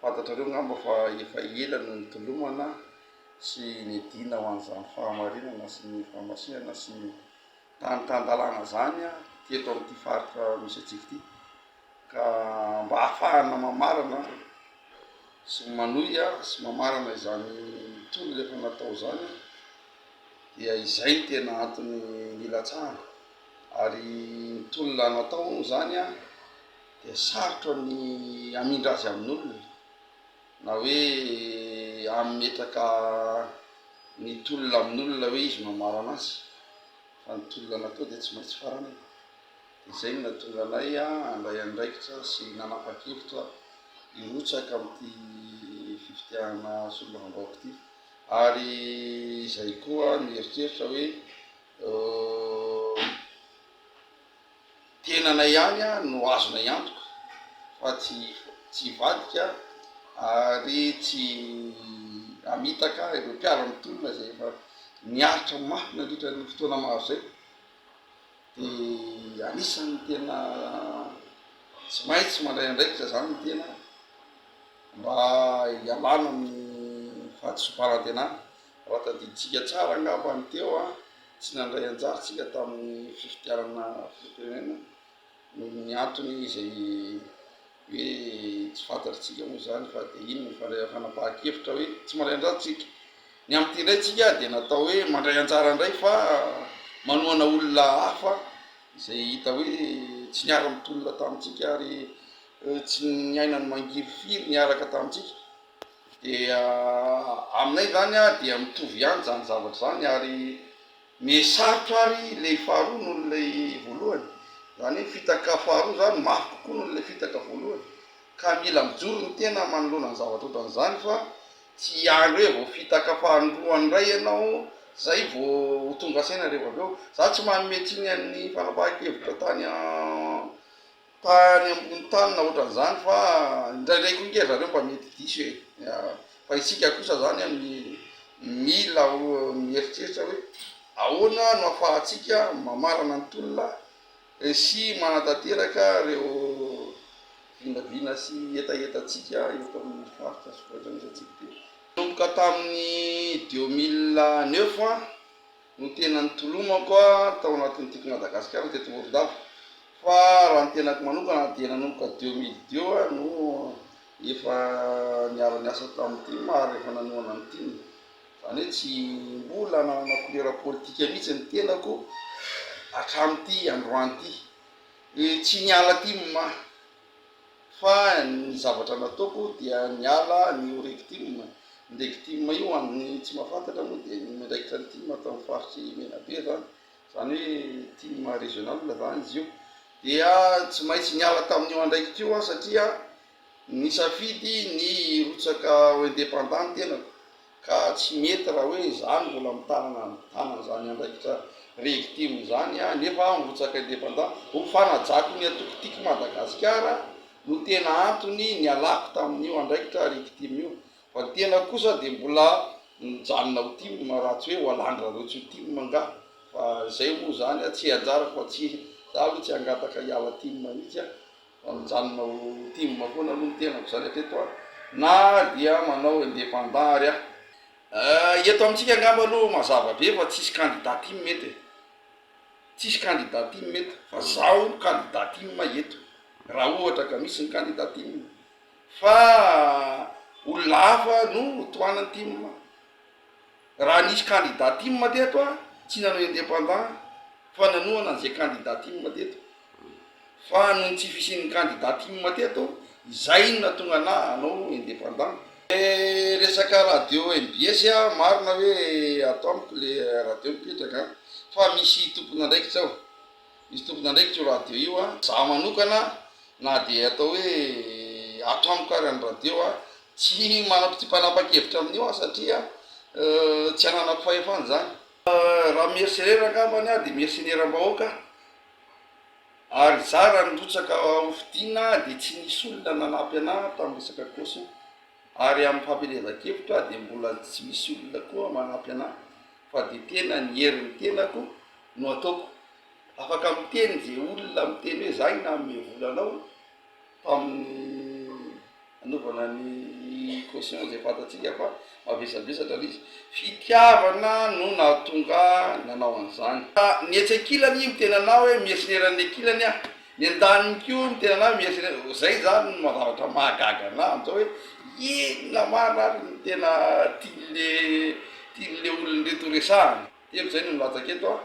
Fantatrareo angamba fa efa ela no nitolomana sy niadiana ho an'izany fahamarinana sy ny fahamasihana sy ny tany tan-dalàna izany teto amin'ity faritra misy antsika ity. Ka mba hahafahana mamarana sy manohy sy mamarana izany tolona efa natao izany dia izay no tena antony nilatsahana. Ary ny tolona natao moa izany dia sarotra ny hamindra azy amin'olona na hoe hametraka ny tolona amin'olona hoe izy no hamarana azy fa ny tolona natao dia tsy maintsy faranana. Dia izay no nahatonga anay handray andraikitra sy nanapa-kevitra hirotsaka amin'ity fifidianana solombavambahoaka ity ary izay koa nieritreritra hoe Tenanay ihany no azonay antoka fa tsy tsy hivadika ary tsy hamitaka ireo mpiara mitolona izay efa niaritra mafy nandritra ny fotoana maro izay dia anisan'ny tena tsy maintsy mandray andraikitra izany ny tena mba hialana amin'ny fahadisoam-panantenana. Raha tadidintsika tsara angamba ny teo an! Tsy nandray anjara isika tamin'ny fifidianana filoham-pirenena noho ny antony izay hoe tsy fantatr'isika moa izany fa dia iny ny fanapahan-kevitra hoe tsy mandray anjara isika. Ny amin'ity indray isika dia natao hoe mandray anjara indray fa manohana olona hafa izay hita hoe tsy niara-nitolona tamintsika ary tsy niaina ny mangirifiry niaraka tamintsika Dia aminay izany dia mitovy ihany izany zavatra izany ary mihesarotra ary ilay faharoa noho ilay voalohany, izany hoe fitaka faharoa izany mafy kokoa noho ilay fitaka voalohany ka mila mijoro ny tena manoloana ny zavatra ohatran'izany fa tsy hiandry hoe vao fitaka fahandroany indray ianao izay vao ho tonga saina rehefa avy eo, za tsy manome tsiny an'ny fanapahan-kevitra tany an. tany ambony tany na otran'izany fa indraindray koa nge zareo mba mety diso e! fa isika kosa zany an mila mieritreritra hoe ahoana no afahantsika mamarana ny tolona sy manatanteraka reo vinavina sy hetahetantsika eto amin'ny faritra sy ohatran'izay tsy miteny. Nanomboka tamin'ny deux mille neuf an. no tena nitolomako tao anatin'ny Tiako Madagasikara teto Morondava fa raha ny tenako manokana dia nanomboka deux mille deux aho no efa niara-niasa tamin'ny tim ary efa nanohana ny tim, izany hoe tsy mbola nanana couleur politika mihitsy ny tenako hatramin'ity androany ity, tsy niala tim aho. fa ny zavatra nataoko dia niala ny ho rectim, ny rectim io ho an'ny tsy mahafantatra moa dia ny miandraikitra ny tim ato amin'ny faritr'i Menabe zany, zany hoe tim régional zany izy io, dia tsy maintsy niala tamin'io andraikitra io aho satria nisafidy ny hirotsaka ho indépendant ny tenako. Ka tsy mety raha hoe izany mbola mitanana ny tanany izany andraikitra regitime izany aho nefa aho mirotsaka independant. Ho fanajako ny antoko Tiako Madagasikara no tena antony nialako tamin'io andraikitra regitime io. Fa ny tena kosa dia mbola mijanona ho tim raha tsy hoe ho alan-dRareo tsy ho tim angaha. Fa izay moa izany tsy anjarako fa tsy, za aloha tsy hangataka hiala tim mihitsy aho. Mijanona ho tim foana aloha ny tenako zany hatreto a! na dia manao independant ary aho. Ahh eto amintsika angamba aloha mazava be fa tsisy candidat tim eto e! tsisy candidat tim eto fa zaho no candidat tim eto raha ohatra ka misy ny candidat tim fa olona hafa no ho tohanan'ny tim. Raha nisy candidat tim teto a tsy nanao independant fa nanohana an'izay candidat tim teto fa noho ny tsy fisian'ny candidat tim teto izay no nahatonga anah hanao independant. Ilay resaka radio mbs a marina hoe ato amiko le radio mipetraka an fa misy tompon'andraikitra ao. Misy tompon'andraikitra io radio io a. Za manokana na dia atao hoe atramoka ary ny radio a, tsy manam tsy mpanapa-kevitra amin'io aho satria tsy ananako fahefana izany. Raha mercenaire angambany aho dia mercenaire am-bahoaka aho ary za raha nirotsaka ho fidiana dia tsy nisy olona nanampy anah tamin'ny resaka caution. Ary amin'ny fampielezankevitra dia mbola tsy misy olona koa manampy anahy fa dia tena ny herin'ny tenako no ataoko. Afaka miteny ze olona miteny hoe zay nanome vola anao tamin'ny nanovana ny caution zay fantatsika fa mavesabesatra le izy. Fitiavana no nahatonga ahy nanao an'izany. Ny etsy ankilany miteny anah hoe mercenaire an'ny ankilany aho Nentany koa ny tenanay mieritreretra hoe zay zany no zavatra mahagaga anah amzao hoe inona marina ary no tena tianle tianle olona reto ho resahana, telo zay no nilatsaka eto an,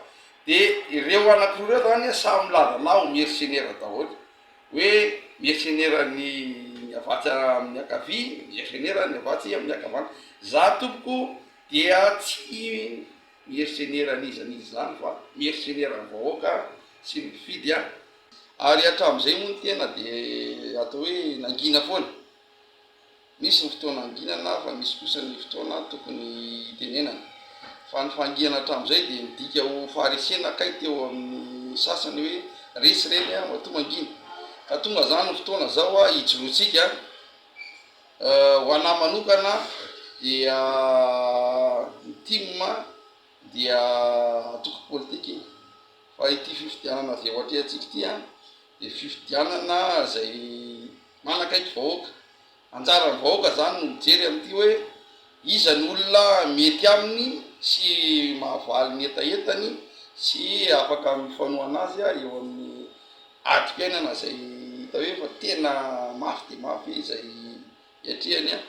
de ireo anakiroa ireo zany an samy milaza anah ho mercenaire daholo hoe mercenaire ny ny avatsy amin'ny ankavia, mercenaire ny avatsy amin'ny ankavanana, zah tompoko dia tsy. Mercenaire an'iza an'iza izany fa mercenaire an'ny vahoaka sy ny mpifidy an! Ary hatramin'izay moa ny tena dia atao hoe nangina foana. Misy ny fotoana anginana fa misy kosa ny fotoana tokony hitenenana. Fa ny fahangihana hatramin'izay dia midika ho faharesena kay teo amin'ny sasany hoe resy ireny an! matoa mangina. Ka tonga izany ny fotoana izao an! hijoroantsika an! Ho anah manokana dia ny tim dia antoko politika e! fa ity fifidianana avy eo atrehantsika ity an dia fifidianana izay manakaiky vahoaka, anjaran'ny vahoaka zany no mijery an'ity hoe iza ny olona mety aminy sy mahavaly ny hetahetany sy afaka mifanohana azy eo amin'ny. adim-piainana izay hita hoe efa tena mafy dia mafy izay hiatrehany an!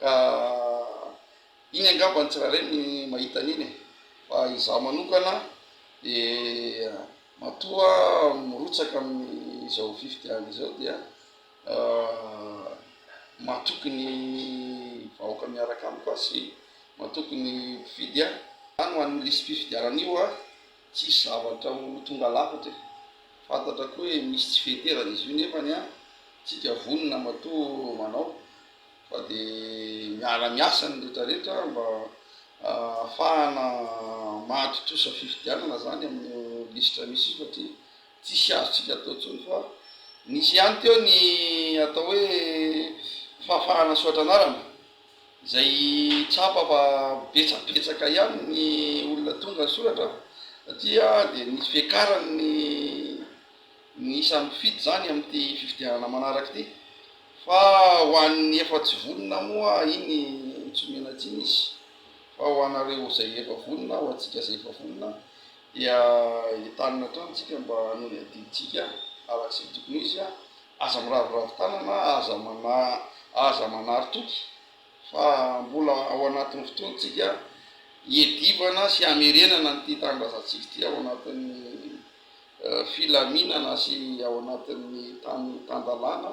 ka iny angamba ny tsirairay no mahita an'iny e! fa izaho manokana dia matoa mirotsaka amin'izao fifidianana izao dia matoky ny vahoaka miaraka amiko aho sy matoky ny mpifidy aho, izany ho an'io lisi-pifidianana io an! Tsisy zavatra ho tonga lafatra e! Fantatra koa hoe misy tsy fenterana izy io nefany an! Tsika vonona matoa manao fa de miara miasa ny rehetra rehetra mba ahafahana mahatontosa fifidianana zany amin'io lisitra misy io satria tsisy azotsika atao tsony fa nisy ihany teo ny atao hoe fahafahana soatra anarana Izay tsapa fa betsabetsaka ihany ny olona tonga nisoratra taty dia misy fiakarany ny ny isan'ny mpifidy izany amin'ity fifidianana manaraka ity fa ho an'ny efa tsy vonona moa iny tsy omena tsiny izy fa ho anareo izay efa vonona, ho antsika izay efa vonona dia entanina hatrany isika mba hanao ny adidintsika araka izay tokony ho izy. Aza miraviravy tanana, aza manahy, aza manary toky fa mbola ao anatin'ny fotoantsika hiadivana sy hamerenana an'ity tanindrazantsika ity ao anatin'ny filaminana sy ao anatin'ny tany tan-dalàna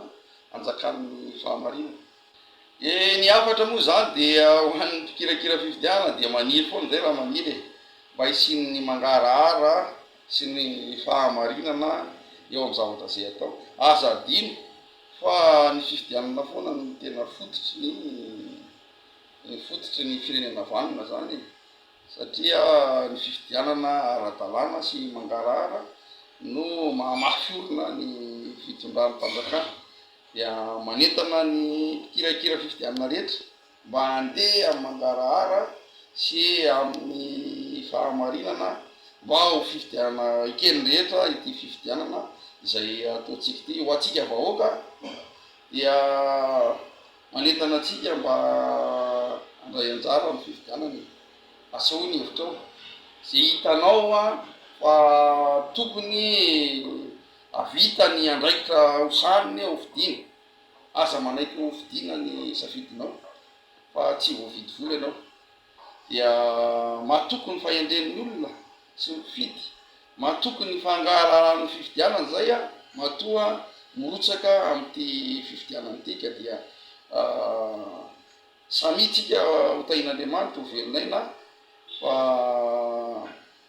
anjakan'ny fahamarinana. E, ny hafatra moa izany dia ho an'ny mpikirakira fifidianana dia maniry foana izay raha maniry e, mba hisian'ny mangarahara sy ny fahamarinana eo amin'ny zavatra izay atao. Aza adino fa ny fifidianana foana no tena fototry ny fototry ny firenena vanona izany e, satria ny fifidianana ara-dalàna sy mangarahara no mahamafy orina ny fitondran'ny fanjakana. dia manentana ny mpikirakira fifidianana rehetra mba handeha amin'ny mangarahara sy amin'ny fahamarinana mba ho fifidianana eken'ny rehetra ity fifidianana izay ataontsika ity. Ho antsika vahoaka dia manentana antsika mba handray anjara amin'ny fifidianana e! Asehoy ny hevitrao, izay hitanao fa tokony Hahavita ny andraikitra ho sahy ny ho fidiana. Aza manaiky ho fidiana ny safidinao fa tsy voavidy vola ianao. Dia matoky ny fahendren'ny olona sy ny mpifidy, matoky ny fangahalahalan'ny fifidianana izay matoa mirotsaka amin'ity fifidianana ity ka dia samia tsika ho tahin'Andriamanitra ho velon'aina fa